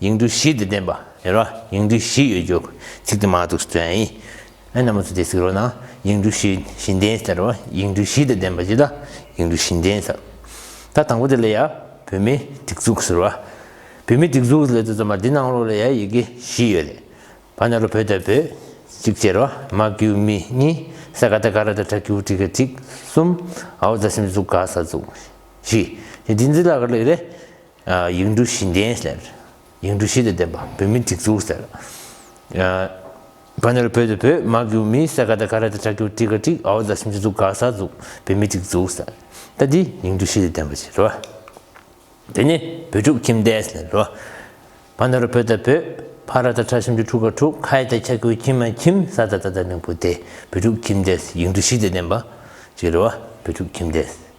ཡིག་འབྲུ་བཞི་དེ་བསྟན་པ། ཡིན་རོ། ཡིག་འབྲུ་བཞི་ཡོད་རྒྱུ། ཚིག་དེ་མ་གཏུགས་སུ་བསྟན། ཨེ་ན་མོ་ཚུལ་དེ་ཚིག་རོ་ན། ཡིག་འབྲུ་བཞི་བཞིན་བསྟན་ཟེར་རོ། ཡིག་འབྲུ་བཞི་དེ་བསྟན་པ་ཅི་ལ་ཡིག་འབྲུ་བཞིན་བསྟན་ཟེར། ད་དང་པོ་དེ་ལ་ཡ། བུད་མེད་སྡིགས་གཟུགས་ཟེར་རོ། བུད་མེད་སྡིགས་གཟུགས་ལས་དེ་རྩོམ་པ་འདི་ནང་ལོགས་ལ་ཡ་ཡི་གེ་བཞི་ཡོད། བ་ན་རོ་བོད་དང་བོད། གཅིག་བྱས་རོ། མ་གུས་མི་གཉིས། སེ་ག་ཏེ་ག་ར་ཏེ་ཏྲ་ཀི་བུ་ཏྲི་ཀ་གཅིག། གསུམ། ཨའོ་ཛ་སེམས་གཟུགས་ག་ས་གཟུགས། བཞི། དེ་འདི་འདི་ལ་ག་ལེགས་རེད། ཡིག་འབྲུ་བཞི་ལྡན་ཟེར། ཡིག་འབྲུ་བཞི་དང་ལྡན་པ་བོད་མི་སྒྲིག་འཛུགས་ཟེར། བ་ནོར་བོད་དུ་བོད་དམག་རྒྱུག་མི་སེ་ག་ད་ཀ་ར་ད་ཁྲ་ཁྱུག་ཀྲི་ཀ་ཀྲིག་ཨའོ་ཛ་ཤིང་ཆུ་འཛུགས་ག་ས་འཛུགས་བོད་མི་སྒྲིག་འཛུགས་ཟེར། ད་འདི་ཡིག་འབྲུ་བཞི་དང་ལྡན་པ་ཟེར་རོ། འདི་ནི་བོད་ཕྲུག་ཁྱིམ་སྡེ་ཟེར་རོ། བ་ནོར་བོད་ད་བོད་ཕ་ར་ད་ཁྲ་ཤིང་ཆུ་ཁྲུག་ཀ་ཁྲུག་ཁའི་ད་ཁྱ་ཁྱུ་ཁྱིམ་མ་ཁྱིམ་ས་ད་ད་ད་མིང་པོ་སྟེ་བོད་ཕྲུག་ཁྱིམ་སྡེ་ཡིག་འབྲུ་བཞི་དང་ལྡན་པ། ཟེར་རོ། བོད་ཕྲུག་ཁྱིམ་སྡེ།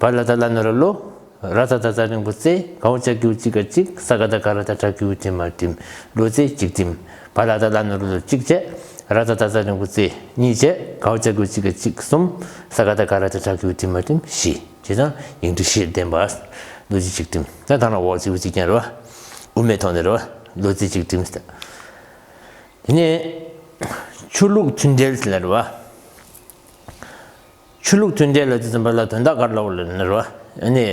བ་ལ་ད་ལ་ན་ར་ལོ། ར་ད་ད་ད་རིང་པོ་ཙེ་གའོ་ལྕགས་ཀྱུ་གཅིག་ག་གཅིག་ས་ག་ད་ག་ར་ད་བྲག་ཀྱུ་གཅིག་མ་བྲིམ་ལོ་ཙེ་གཅིག་བྲིམ་བ་ལ་ད་ལ་ན་ར་ལོ་གཅིག་བྱས་ར་ད་ད་ད་རིང་པོ་ཙེ་གཉིས་བྱས་གའོ་ལྕགས་ཀྱུ་གཅིག་ག་གཅིག་གསུམ་ས་ག་ད་ག་ར་ད་བྲག་ཀྱུ་བྲིམ་མ་བྲིམ་བཞི་ཇི་ལྟར་ཡིག་འབྲུ་བཞིར་ལྡན་པ་ལོ་གཅིག་གཅིག་བྲིམ་ད་ད་རང་འོག་ཙེའུ་གཅིག་ཀྱང་ར་བ་དབུ་མའི་ཐོག་ནས་ར་བ་ལོ་ཙེ་གཅིག་བྲིམ་སྟེ། དེ་ནས་ཆུ་ལུག་ཆུ་འདྲེལ་ལ་ར་བ། ཆོས་ལུགས་མཐུན་འབྲེལ་ལ་རྩིས་ཙམ་པ་ལ་དོན་དག་གར་ལོག་ལ་ནི་རོ། ནི།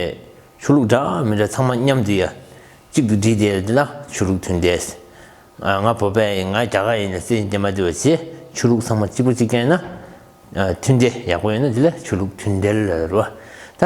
ཆོས་ལུགས་འདྲ་མི་འདྲ་ཚང་མ་མཉམ་དུ་ཡ། གཅིག་ཏུ་བསྒྲིལ་ཏེ་འདི་ན་ཆོས་ལུགས་མཐུན་འབྲེལ། ང་བོད་པ་ཡིན་ང་རྒྱ་གར་ཡིན་ནི་སེ་འདི་མ་འདི་བ་ཅེས་ཆོས་ལུགས་ཚང་མ་གཅིག་པོ་གཅིག་རྐྱེན་ན། མཐུན་འབྲེལ་ཡག་པོ་ཡོད་ན་དེ་ལ་ཆོས་ལུགས་མཐུན་འབྲེལ་ལ་རོ། ད།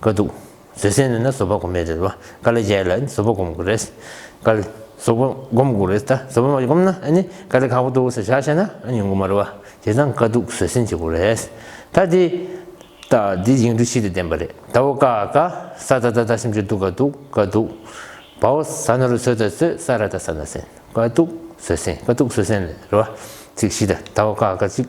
དཀའ་སྡུག། བཟོད་བསྲན་ནི་ན་བཟོད་པ་གོ་མེད་རེད་བ། དཀའ་ལས་རྒྱལ་ལ་ནི་བཟོད་པ་སྒོམ་དགོས་རེད། དཀའ་ལས། བཟོད་པ་སྒོམ་དགོས་རེད་ད། བཟོད་པ་མ་བསྒོམ་ན་ནི་དཀའ་ལས་ཁག་པོ་འདུག་ཟེར་བྱ་བྱས་ན་ནི་ཡོང་གི་མ་རེད་བ། དེ་དང་དཀའ་སྡུག་བཟོད་བསྲན་བྱེད་དགོས་རེད། ད་འདི། ད་འདི་ཡིག་འབྲུ་ཕྱིས་ཏེ་བདེན་པ་རེད། ད་བོ་དཀའ་དཀའ། ས་དཀའ་ད་ད་སེམས་ཅན་སྡུག་དཀའ་སྡུག་དཀའ་སྡུག། བ་བོ་ས་ན་རུ་ཚོད་ད་ཚོད་ས་ར་ད་ས་ན་སེན་དཀའ་སྡུག་བཟོད་བསྲན་དཀའ་སྡུག་བཟོད་བསྲན་ལས་རེད་བ། ཚིག་བཞི་ད་ད་བོ་དཀའ་དཀའ་ཅིག།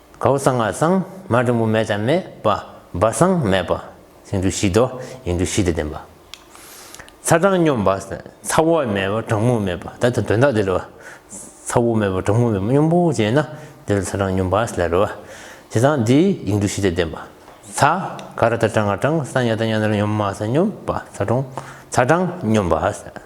གའུ་གསང་སྔགས་གསང། མ་འབྲིང་པོ་མེད་ཅང་མེད། པ། སྦ་གསང་མེད། པ། སེང་འབྲུག་བཞི། དོ། ཡིག་འབྲུ་བཞི་སྟེ་བདེན་པ། ཚ་གྲང་སྙོམས་པ། ཚ་བ་མེད་པ་གྲང་མོ་མེད་པ། ད་ལྟ་དོན་དག་འདི་ལ་བ། ཚ་བོ་མེད་པ་གྲང་མོ་མེད་པ་སྙོམས་པོ་ཅན་ན། དེ་ལ་ཚ་གྲང་སྙོམས་པ། ལ་རོལ་བ། དེ་དང་འདི་ཡིག་འབྲུ་བཞི་སྟེ་བདེན་པ། ཚ། ག་ར་ད་གྲང་ང་གྲང། ས་ཉ་ད་ཉ་ན་ར་སྙོམས་མ་ས་སྙོམས། པ། ཚ་གྲང། ཚ་གྲང་སྙོམས་པ།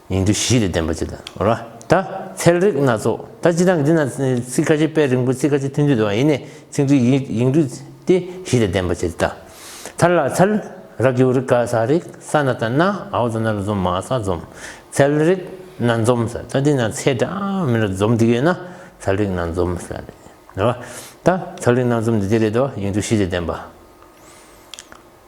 ཉིང་རྡུལ་བཞི་ལས་ལྡན་པ་ཅི་ལྟར་འོ་ར་ད་ཚལ་རིགས་སྣ་ཚོགས་ད་ཅི་ལྟར་འདི་ན་ཚིག་ཁ་ཆེ་དཔེ་རིང་པོ་ཚིག་ཁ་ཆེ་ཐུན་བསྡུས་དང་ཡེ་ནས་ཚིག་འདུས་ཡིག་འབྲུ་སྟེ་བཞི་ལས་ལྡན་པ་ཅི་ལྟར་ཐར་ལ་ཚལ་ར་གེའུ་རིགས་ཀ་ས་རིགས་ས་ན་ད་ན་ཨའོ་ད་ན་རུ་འཛོམ་མ་ས་འཛོམ་ཚལ་རིགས་སྣ་འཛོམ་ས་ད་འདི་ན་ཚེ་འདྲ་མི་ལ་འཛོམ་འདི་ཡོད་ན་ཚལ་རིགས་སྣ་འཛོམ་ས་རེད་འོ་ར་ད་ཚལ་རིགས་སྣ་འཛོམ་འདི་དེ་རེད་དོ་ཡིག་འབྲུ་བཞི་ལས་ལྡན་པ།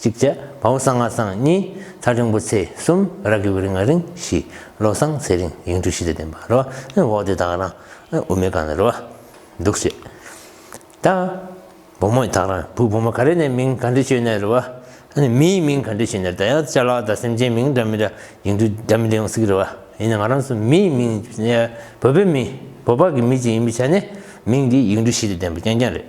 གཅིག་བྱ། བ་འོ་སང་ང་སང་གཉིས། ཚ་ཆུང་བུ་ཚེས་གསུམ། ར་གི་བུ་རི་ང་རིང་བཞི། ལོ་སང་ཚེ་རིང་ཡིང་དྲུག་བཞི་ལས་བསྟན་པ་རོ། འོག་སྡེ་དག་རང། དབུ་མའི་གང་ལ་རོ། འདུག་བྱེད། ད། བུ་མོ་དག་རང། བུ་བུ་མོ་ག་རེ་ནས་མིང་ག་འདྲི་བྱོས་ནས་རོ། མིའི་མིང་ག་འདྲི་བྱོས་ནས་ད་ཡང་བྱ་ལ་ད་སེམས་ཅན་མིང་འདྲ་མི་འདྲ་ཡིང་དྲུག་འདྲ་མི་འདྲ་ཡོང་སིག་རོ། ཡིན་ན་ང་རང་སུ་མིའི་མིང་བོད་པའི་མིང་བོད་པ་གི་མི་ཅིག་ཡིན་པའི་ཆ་ནས་མིང་འདི་ཡིང་དྲུག་བཞི་ལས་བསྟན་པ་རྐྱང་རྐྱང་རེད།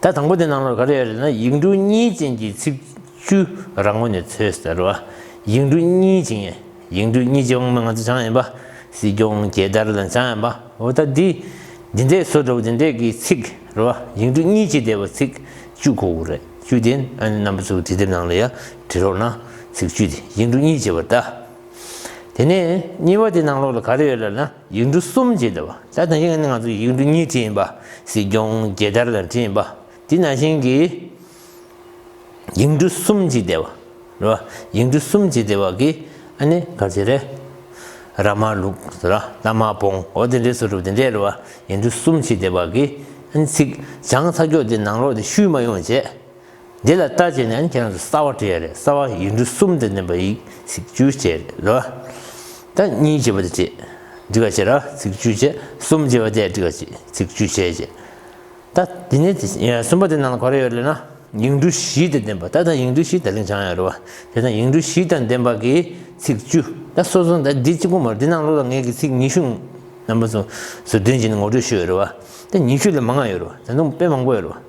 ད་དང་པོ་དེ་ནང་ལོགས་ག་རེ་ཡོད་རེད་ན་ཡིག་འབྲུ་གཉིས་ཅན་གྱི་ཚིག་བཅུ་རང་ངོས་ནས་འཚོལ་ཟེར་བ། ཡིག་འབྲུ་གཉིས་ཅན། ཡིག་འབྲུ་གཉིས་ཅན་དབང་མོ་ང་ཚོ་བྱང་ཡིན་པ། སྲིད་སྐྱོང་རྒྱལ་དར་དང་བྱང་ཡིན་པ། འོ་ད་འདི། འདི་འདྲའི་བཟོ་འདྲ་བོ་འདི་འདྲས་ཀྱི་ཚིག་རེད་བ། ཡིག་འབྲུ་གཉིས་ཅན་དེ་བ་ཚིག་བཅུ་གོ་དགོས་རེད། བཅུ་དེ་ཨ་ནི་རྣམ་པ་ཚོ་དེ་དེབ་ནང་ལ་ཡ་བྲིས་རོགས་གནང། ཚིག་བཅུ་དེ་ཡིག་འབྲུ་གཉིས་ཅན་བ་ད། དེ་ནས་གཉིས་བ་དེ་ནང་ལོགས་ལ་ག་རེ་ཡོད་ལབ་ན། ཡིག་འབྲུ་གསུམ་ཅེས་བྱ་བ་ལྟར་དང་ཡིག་ནི་ང་ཚོ་ཡིག་འབྲུ་གཉིས་བྲིས་ཡིན་པ་སྲིད་སྐྱོང་རྒྱལ་དར་ལ་བྲིས་ཡིན་པ་དེ་ནང་བཞིན་གྱི་ཡིག་འབྲུ་གསུམ་ཅེས་བྱ་བ་རེད་བ་ཡིག་འབྲུ་གསུམ་ཅེས་བྱ་བ་གིས་ཨ་ནི་ག་ཚད་རེད། ར་མ་ལུག་ར་རྟ་མ་བོང་འོ་དེ་འདྲའི་ཚུལ་གྲུབ་དེ་འདྲས་རེད་བ་ཡིག་འབྲུ་གསུམ་ཅེས་བྱ་བ་གིས་ཨ་ནི་ཚིག་བྱང་ཚ་འཁྱོག་དེ་ནང་ལོག་དེ་བཤུལ་མ་ཡོང་བྱས། འདི་ལ་ལྟ་བྱས་ནས་ཁྱེད་རང་ཚོས་གསར་བ་བྲི་ཡ་རེད་གསར་བ་ཡིག་འབྲུ་གསུམ་དེ་བསྣན་པ་ཡིག་ཚིག་བཅུ་བྱས་རེད་ལོ། ད་གཉིས་བྱས་པ་དེ་བྲི་འགྲིག་ག་བྱེད་ར་ཚིག་བཅུ་བྱས་གསུམ་བྱས་པ་དེ་བྲི་ག་བྱེད་ཚིག་བཅུ་བྱས་བྱས། ད་དེ་ནས་དེ་གསུམ་པ་དེ་ནང་ལ་ག་རེ་ཡོད་རེད་ན་ཡིག་འབྲུ་བཞི་དེ་བདེན་པ་ད་ད་ཡིག་འབྲུ་བཞི་ད་ལིང་བྱང་ཡོད་རེད་བ་དེ་ད་ཡིག་འབྲུ་བཞི་དང་བདེན་པ་གི་ཚིག་བཅུ་ད་སོ་སོ་ད་འདི་གཅིག་པོ་མ་རེད་འདི་ནང་ལོ་ལ་ངེད་ཀྱིས་ཚིག་ཉི་ཤུ་རྣམ་པ་ཚོ་བདུན་བྱས་ནས་ངོ་སྤྲོད་ཞུས་ཡོད་རེད་བ་དེ་ཉི་ཤུ་ལས་མང་ཡོད་རེད་བ་ད་དུང་དཔེ་མང་པོ་ཡོད་རེད་བ།